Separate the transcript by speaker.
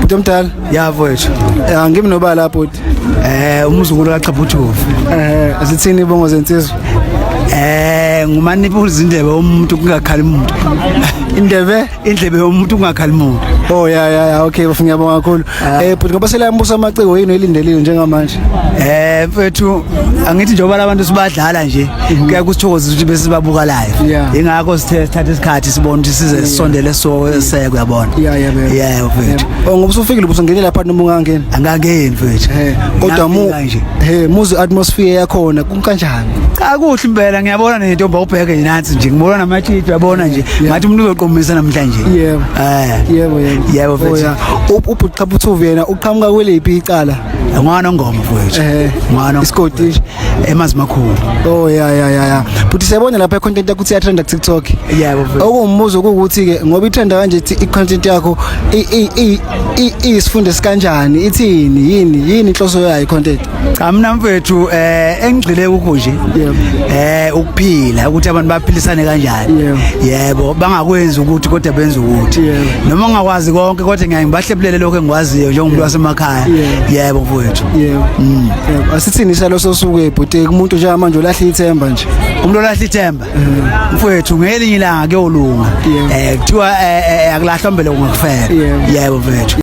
Speaker 1: Bhuti omdala? Ya mfowethu.
Speaker 2: Eh ngimi nobala
Speaker 1: bhuti. Eh umzukulu
Speaker 2: kaXhabuthuvu. Eh zithini
Speaker 1: ibongo zensizwa? Eh ngumani
Speaker 2: ibuza indlebe umuntu kungakhali umuntu. Indlebe indlebe yomuntu kungakhali umuntu. Oh ya ya ya
Speaker 1: okay bafuna ngiyabonga kakhulu. Ah. Eh bhuti ngoba sela yambusa amaciko yini elindelile njengamanje? Eh mfowethu
Speaker 2: angithi njengoba abantu sibadlala nje mhm. kuya kusithokoza ukuthi bese sibabuka live yeah. ingakho sithe sithatha isikhathi sibona ukuthi size yeah. sisondele so yeah. seke uyabona yeah yeah baby. yeah mfethu yeah. oh ngoba usufikile ubuso
Speaker 1: ngene lapha noma ungangeni angangeni mfethu hey
Speaker 2: kodwa mu
Speaker 1: hey muzi atmosphere yakhona kunkanjani cha kuhle impela
Speaker 2: ngiyabona nentombi ubheke nansi nje ngibona namatshitshi uyabona nje ngathi umuntu uzoqomisa namhlanje yebo eh yebo yebo
Speaker 1: yebo mfethu oh, ubhuqhaphuthu yena uqhamuka kweliphi icala ngwana ngoma
Speaker 2: mfethu eh ngwana iskoti
Speaker 1: emazi makhulu
Speaker 2: oh ya ya
Speaker 1: ya ya futhi siyabona lapha content yakho ukuthi yatrenda ku TikTok yebo okumbuzo
Speaker 2: ukuthi ke
Speaker 1: ngoba itrenda kanje i content yakho i isifunde sikanjani ithini yini yini inhloso yayo content cha mina mfethu
Speaker 2: eh engigxile kukho nje eh ukuphila ukuthi abantu baphilisane kanjani yebo bangakwenzi ukuthi kodwa benze ukuthi noma ngakwazi konke kodwa ngiyaye ngibahlebulele lokho engikwaziyo njengomuntu wasemakhaya yebo mfethu yebo mm.
Speaker 1: Yebo, asithini isalo sosuke bhuti kumuntu nje manje olahla ithemba nje. umuntu olahla ithemba
Speaker 2: mfowethu ngelinye ilanga kuyolunga Yebo. um kuthiwa eh, eh, akulahlwa mbele kungakufela Yebo. yebo mfethu